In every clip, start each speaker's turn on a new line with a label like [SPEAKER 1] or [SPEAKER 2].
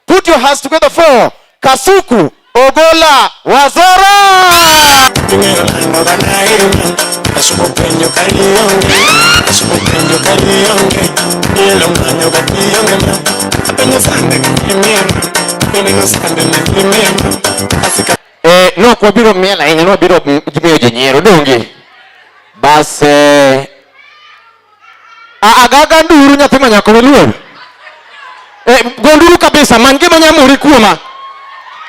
[SPEAKER 1] Put your hands together for Kasuku Ogola Wazora. Eh, no kwa biro miela ina no biro jimiyo jinyero dongi. Base agaga nduru nyathi ma nyako luor eh, gonduru kabisa man gima nyamori kuoma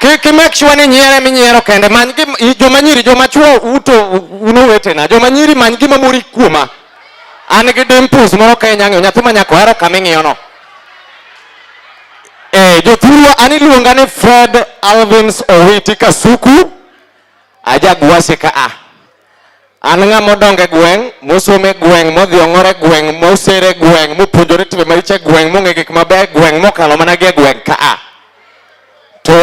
[SPEAKER 1] ki make sure ni nyiere minyiero kende man gima joma nyiri joma chuo uto uno wetena joma nyiri man gima mori kuoma an gi dimples moro ka inyang'eyo nyathi ma nyako hero kama ing'iyono eh, jothurwa an iluonga ni fred alvins owiti kasuku ajagwase ka a ah. An ng'ama odongo e gweng', mosomo e gweng', modhi ong'or e gweng', moser e gweng', mopuonjore timbe maricho e gweng', mong'e gik mabeyo e gweng', mokalo mana gi e gweng' ka a. To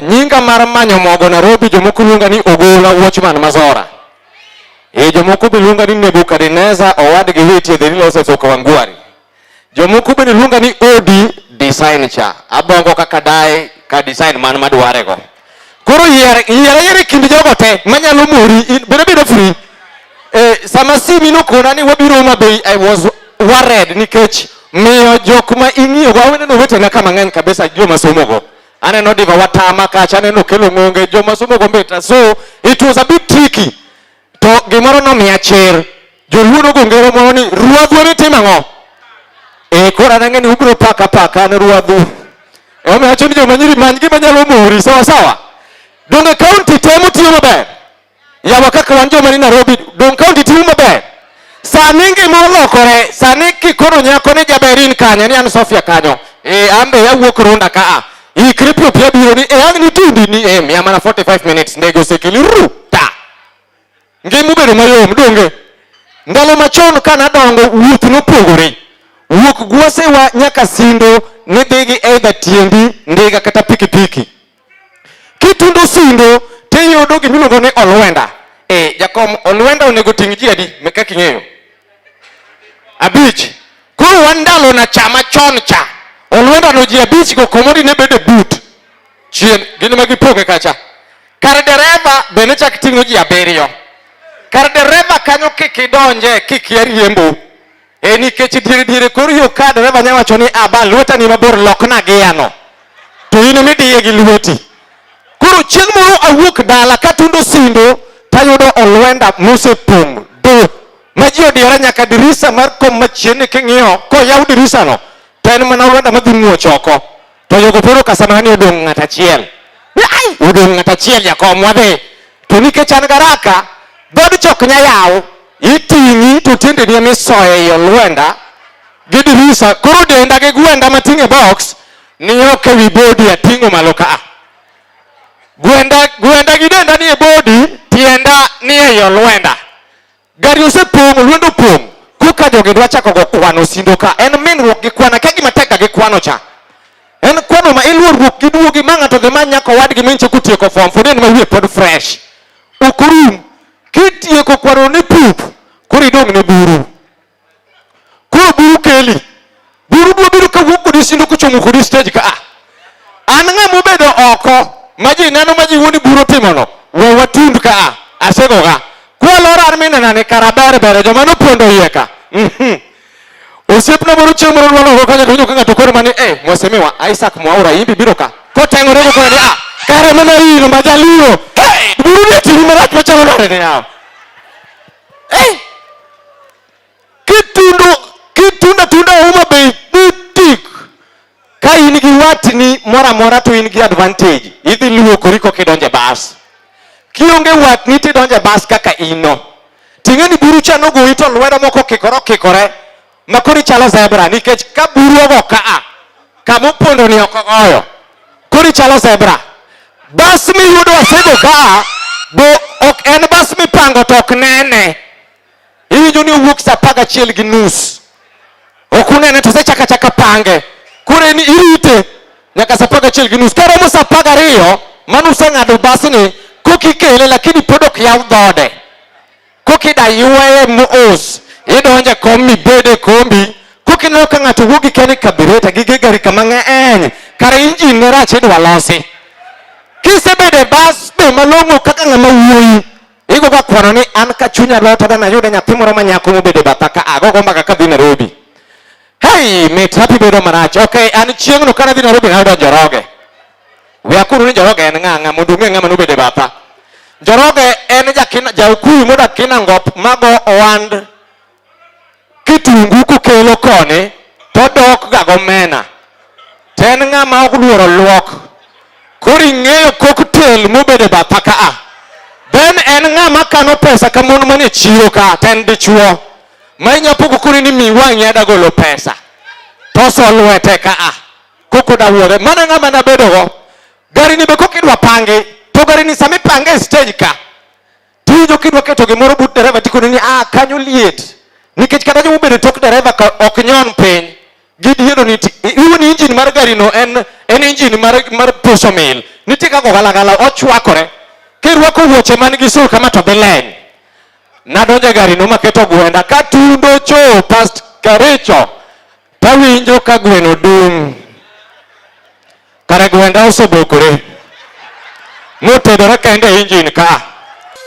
[SPEAKER 1] nyinga mar manyo mogo Nairobi jomoko luonga ni Ogola Watchman Mazora. E jomoko be luonga ni Nebukadneza owadgi Witi e Dheri Lose Soka Wangwari. Jomoko bende luonga ni odi design cha. Abongo kaka dae ka design man madware go. Koro yier yier yier kind jogo te manyalo mori bende bedo free. Eh, sama simi nokona ni wabiro ma be I was worried nikech miyo jok ma ing'iyo go aweneno wetena kama ng'eny kabisa joma somo go. Aneno diva watama kacha aneno kelo ng'onge joma somo go mbeta so it was a bit tricky. To gimoro nomiya chir. Joluo nogo ngero moro ni ruadhu ni timo ang'o? Eh koro an ang'e ni ubiro paka paka an ruadhu. Emomiyo awacho ni joma nyiri many gima nyalo mori sawa sawa. Donge kaunti temo tiyo maber? Yawa kaka wan joma ni Nairobi, donge kaunti tiyo maber? Sani ngima olokore, sani kikono nyako ni jaberin kanye ni an Sofia kanyo. Eh, ambe yawuok runda ka a. Ikri pio pia biro ni eh ang ni tindi ni eh mia mana 45 minutes ndege osekeli ru ta. Ngima obedo mayom donge. Ndalo machon ka nadongo wuoth nopogore. Wuok gwosewa nyaka sindo nidhigi either tiendi ndiga kata pikipiki. Kitundo sindo to iyudo gima iluongo ni olwenda. Eh, jakom olwenda onego ting' ji adi meka king'eyo? Abich. Koro wan ndalo na cha machon cha. Olwenda no ji abich go komodi ne bede but. Chien gin ma gipoke kacha. Kar dereva be ne chak ting'o ji abiriyo. Kar dereva kanyo kik idonje kik yariembo. e nikech diere diere kor yo ka dereva nya wacho ni aba ah, lweta ni mabor lokna giyano to in midiye gi lweti koro chieng' moro awuok dala katundo sindo tayudo olwenda mosepong' do ma ji odiyore nyaka dirisa mar kom machienni king'iyo koyaw dirisano to en mana olwenda madhi muoch oko To Yogoporo Kasamani odong' ng'at achiel. Ai, odong' ng'at achiel jakom wadhi. To nikech an garaka, dhood chok nya yaw, iting'i to tiendeni ema isoyo ei olwenda gi dirisa. Koro denda gi gwenda mating'e box ni ok ewi bodi ating'o malo ka. Gwenda, gwenda gi denda ni e bodi, tienda ni ei olwenda. Gari osepong', lwendo opong'. Koka jogi dwa chako go kwano sindo ka. En minruok gi kwana ka gima tek gi kwano cha. En kwano ma iluorruok gi duogi ma ng'ato dhi manya kowadgi minche kotieko form for ma wiye pod fresh. Ok orum. Kitieko kwano ni pup, koro idong' ne buru. koro buru keli buru duobedo kawuok kodi sindo kochomo kodi stage ka ah. an ng'a mobedo oko ma ji neno ma ji wuoni buro timono we watund ka ah. asegoga kwalora an minena ni kara ber bere joma nopondo iye ka Mhm. osiepna moro chieng' moro nwanogo kanya to winjo ka ng'ato koro mani eh mwasemiwa isaac mwaura imbi biro ka koteng'ore go kore ni ah kare mana ino ma jaluo buru ni timi marach machalo nade ni yawa eh! Kitundu kitunda tunda Homa Bay butik ka in gi watni moro amora to in gi advantage idhi luokori koka idonjo e bas kionge watni tidonjo e bas kaka ino ting'eni burucha nogoyi to lwedo moko kikore okikore makoni chalo zebra nikech ka buru ogo kaa kama opondo ni ok ogoyo koni chalo zebra bas miyudo asego kaa bo ok en bas mipango to ok nene iwinjo ni owuok sa apar gachiel gi nus ok unene to sechaka chaka pange koro ni irite nyaka sa apar gachiel gi nus karomo sa apar gariyo mano useng'ado basni kokikele lakini pod ok yaw dhode kokida yueye mos idonje kom mibede kombi kokineno ka ng'ato wuogi keni kabireta gi gigari kama ng'eny kare injin ne rach idwa losi kisebede bas be malong'o kaka ng'ama wuoyi igo ka kwano ni an ka chunya lota dana yude nyathi moro ma nyako mobede batha ka agogo mbaka ka dhi Nairobi hey mit happy bedo marach okay an chieng'no kana dhi Nairobi nayudo njoroge We akuru ni Njoroge en ng'ang'a mondo ung'e ng'ama nobede batha. Njoroge en jakina jaukuyu modak Kinangop mago ohand kitungu kukelo koni to odok ga gomena. To en ng'ama ok luoro luok. Koro ing'eyo cocktail mobede batha ka a. Then en ng'ama kano pesa ka mon manie chiro ka to en dichuo. Ma inya pogo koni ni mi wang'i adagolo pesa. To oso lwete ka a. koko dawuore mana ng'ama nabedogo gari ni be kok idwa pangi to gari ni sama ipange e stage ka tiwinjo kidwa keto gimoro but dereva tikoni ni ah kanyo liet nikech kata joma obedo tok dereva ka ok nyon piny gidhiero ni iwu ni injin mar gari no en en injin mar mar puso mil nitie kaka ogalagala ochwakore kirwako wuoche man gi sul kama to bileny nadonjo e gari no maketo gwenda katundo cho past karicho Tawinjo ka gweno dum. Kare gwenda osebokore. Motedore kende e injin ka.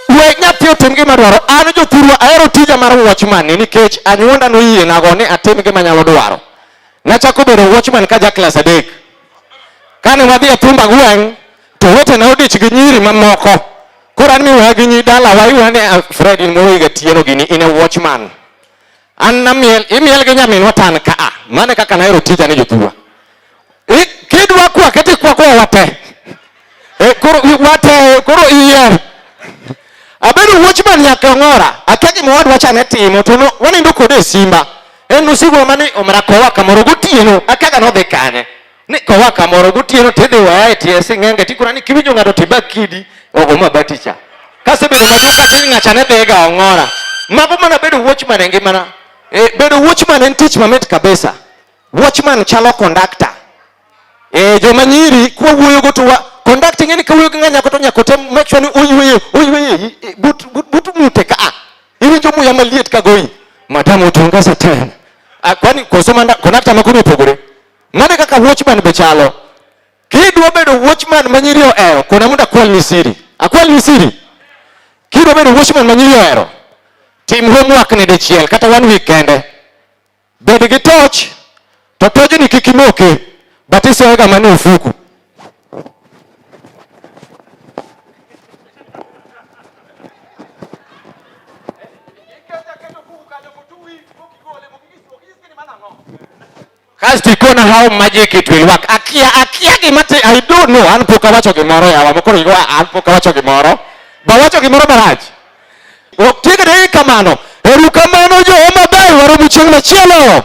[SPEAKER 1] We nyathi otim gima dwaro. An jothurwa ahero tija mar watchman ni nikech anyuonda noyienago ni atim gima nyalo dwaro. Nachako bedo watchman ka ja klas adek. Kane wadhi e thumba gweng' to wetena odich gi nyiri mamoko. Koro an miwaya gi nyi dalawa iwuoyo ni "Ah, Fred in moro higa tieno gini in a watchman. An namiel, imiel gi nyaminwa tan ka a. Mane kaka nahero tija ni jothurwa. Kidwa kwa kete kwa kwa wate. E koro wate koro iyer. Abedo watchman nyaka ngora. Akia gima wadwa chane timo to no wanindo kode e simba. En usiku mane omra kowa kamoro gotieno. Akaga nodhi kanye. ni kowa kamoro gotieno tidhi waya e tie sing'enge tikona ni kiwinjo ng'ato tibak kidi ogo mabati cha kasebedo maduong' katiny ng'acha ne dhega ong'ora mago mana bedo watchman e ngimana e, bedo watchman en tich mamit kabisa watchman chalo kondakta e, joma nyiri kwawuoyogo to kondakta ing'e ni kawuoyo gi ng'a nyako to nyako tem make sure ni oyueye oyueye e, but, but, but mute ka a iwinjo muya maliet kagoyi madam otunga satan ah, kwani koso kondakta makono opogore Mane kaka watchman be chalo. Kidwa bedo watchman ma nyiri ohero, kona mondo akwal ni siri. Akwal ni siri. Kidwa bedo watchman ma nyiri ohero, tim homework ni dichiel kata one week kende. Bed gi torch, to tojni kik imoke, but isoyoga mana e ofuku. Kasto ikona how magic it will work. Akia akia gima ti I do know an pok awacho gimoro yawa mokoro igo an pok awacho gimoro. Ba wacho gimoro marach. Ok tiga de kamano. Eru kamano jo maber waro buchieng machielo.